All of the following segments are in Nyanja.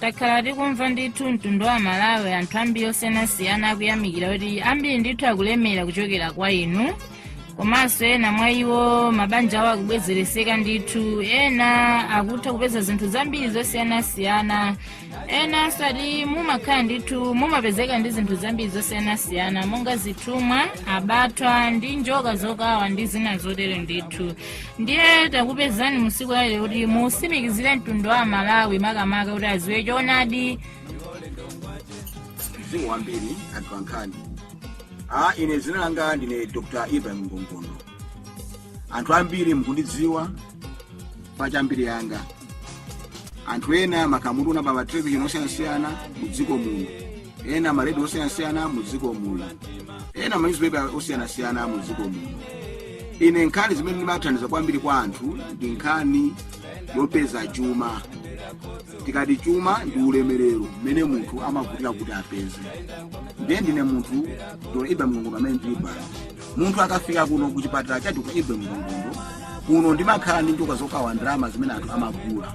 takhala tikumva ndithu mtundu wa malawi anthu ambiri osiyanasiyana akuyamikira kuti ambiri ndithu akulemera kuchokera kwa inu komanso ena mwa iwo mabanja awo akubwezereseka ndithu ena akutha kupeza zinthu zambiri zosiyanasiyana ena akuti mumakhala ndithu mumapezeka ndi zinthu zambiri zosiyanasiyana monga zithumwa abatwa ndi njoka zokawa ndi zina zotere ndithu ndiye takupezani musiku lalero kuti musimikizire mtundu wa amalawi makamaka kuti aziwe choonadi zikomo kwambiri anthu ankhani a ine zina langa ndine dr ibrahim ngongondo anthu ambiri mukundidziwa pa za mbiri yanga anthu ena mumandiona pa matelevision osiyanasiyana mu dziko muno ena maredio osiyanasiyana mu dziko muno ena manyuzipepala osiyanasiyana mu dziko muno ine nkhani zimene ndimathandiza kwambiri kwa anthu ndi nkhani yopeza chuma tikati chuma ndi ulemerero mmene munthu amavutikira kuti apeze ndiye ndine munthu dr ibe ngongondo amene ndili pano munthu akafika kuno ku chipatala cha dr ibe ngongondo kuno ndimakhala ndi njoka zokawa ndalama zimene anthu amagula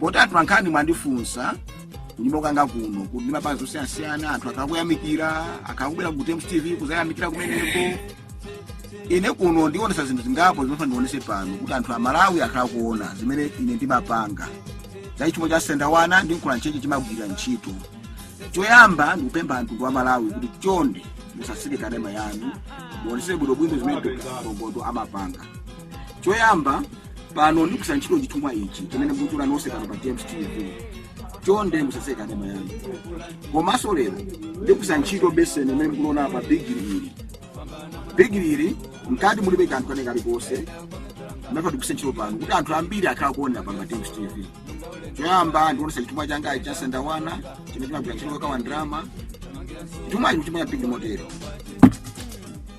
poti anthu ankhani mwandifunsa kunyumba kwanga kuno kuti ndimapanga zosiyanasiyana anthu akukuyamikira akubwera ku times tv kuzayamikira kumeneko ine kuno ndionesa zinthu zingapo zimene ndionese pano kuti anthu amalawi akhala kuona zimene ine ndimapanga za chithumwa cha sendawana ndi mkula ntchito chimagwira ntchito choyamba ndikupempha anthu wa malawi kuti chonde musatseke kanema yanu muonesere bwinobwino zimene Dr. Ngongondo amapanga choyamba pano ndikugwiritsa ntchito chithumwa ichi chimene mukuchiona nonse pano pa times tv chonde musatseke kanema yanu komanso lero ndikugwiritsa ntchito beseni imene mukuliona pa bigiri ili bigiri ili mkati mulibe kanthu kena kalikonse amene ndikugwiritsa ntchito pano kuti anthu ambiri akhala kuonera pano pa times tv choyamba ndikuonesa chithumwa changa cha sendawana chimene chimagwira ntchito yokawa ndalama chithumwa ichi chimwe cha bigiri motero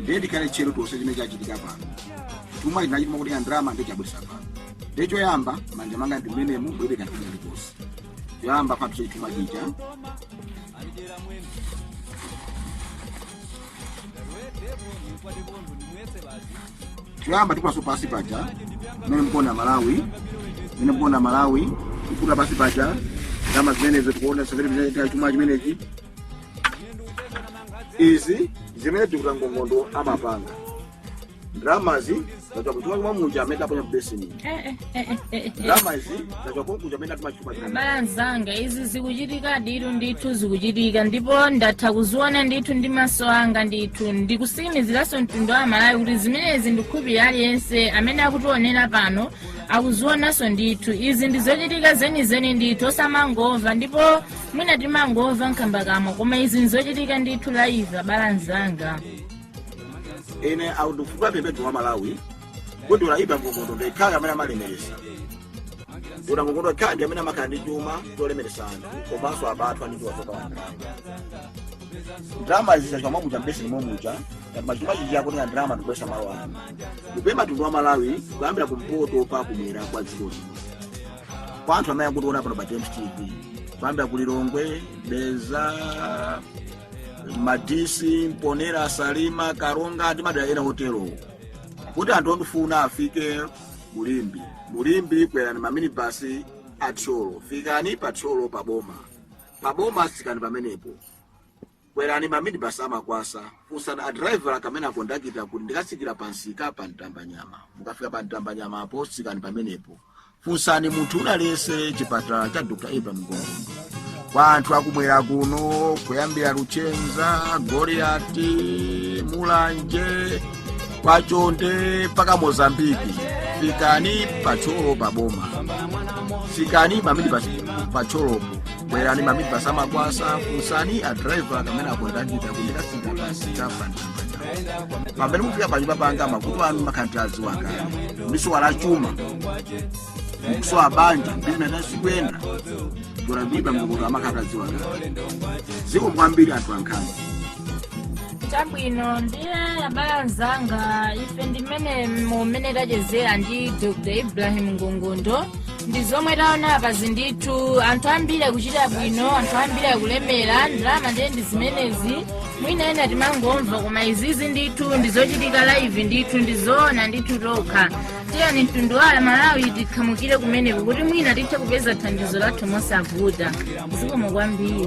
ndiye tikhale tcheru tonse chimene chachitika pano chithumwa chija chimakutenga ndalama ndiye chabwesa pano ndiye choyamba manja manga ndi amenewa mulibe kanthu kalikonse choyamba papse chithumwa chija choyamba tikulaso pasi paja mmene mkuona malawi mmene mkuona malawi tikuta pasi paja ndalama zimenezo tikuona severe chithumwa chimenechi izi zimene dr ngongondo amapanga ndalamazi zachoka kuchuma chuma muja amene aponya mbeseni Eh, eh, eh, eh, eh, eh. ndalamazi zachoka konkuja amene atuma chuma chuma abale anzanga izi zikuchitika ndithu ndithu zikuchitika ndipo ndatha kuziona ndithu ndi maso anga ndithu ndikutsimikiziranso mtundu wa malawi kuti zimenezi ndikhulupirira aliyense amene akutionera pano akuzionanso ndithu izi ndizochitika zenizeni ndithu osamangomva ndipo mwina timangomva nkhambakamwa koma izi nzochitika ndithu live abale anzanga ine ndikufuna kupempha mtundu wa malawi kuti dr ibra ngongondo ndi yekha amene amalemeresa dr ngongondo yekha ndi amene amakhala ndi chuma cholemeresa anthu komanso apatu ndi chithumwa chokawa ndalama ndalama izi zachoka momuja mbeseni momuja ngati machuma chichi akuti nga ndalama ndikubwesa malo ano ndikupempha mtundu wa malawi kuyambira kumpoto pa kumwera kwa dziko lino kwa anthu amene akutiona pano pa james tv kuyambira ku lilongwe dedza madisi mponera salima karonga ndi madera ena otero kuti anthu ondifuna afike mu limbe mu limbe kwerani maminibasi a thyolo fikani pa thyolo pa boma pa boma tsikani pamenepo Kwerani ma minibus a Makwasa, funsani a driver kapena kondakita kuti ndikatsikira pa msika pa Mtambanyama. Mukafika pa Mtambanyamapo, tsikani pamenepo. Funsani munthu wina aliyense chipatala cha Dr. Ibra Ngongondo. Kwa anthu akumwera kuno, kuyambira Luchenza, Goliati, Mulanje, kwa Chonde mpaka Mozambiki, fikani pa Thyolo pa boma. Tsikani minibus pa Thyolopo. kwerani maminibasi a makwasa funsani a driver kapena akondakita kuti ndikatsikira pamsika pa mtambanyama pamene mufika panyumba panga mavuto anu ndimakhala nditadziwa kale mukusowa chuma mkusowa banja bizinesi sikuyenda dr ibra ngongondo amakhala atadziwa kale zikomo kwambiri atolankhani chabwino ndiye abale anzanga ife ndimene mumene tachezera ndi dr ibrahim ngongondo ndi zomwe taona apazi ndithu anthu ambiri akuchita bwino anthu ambiri akulemera ndalama ndiye ndi zimenezi mwina ena timangomva koma izizi ndithu ndi zochitika live ndithu ndi zoona ndithu tokha tiyeni mtundu wa malawi tikhamukire kumeneko kuti mwina tithe kupeza thandizo lathu mosavuta zikomo kwambiri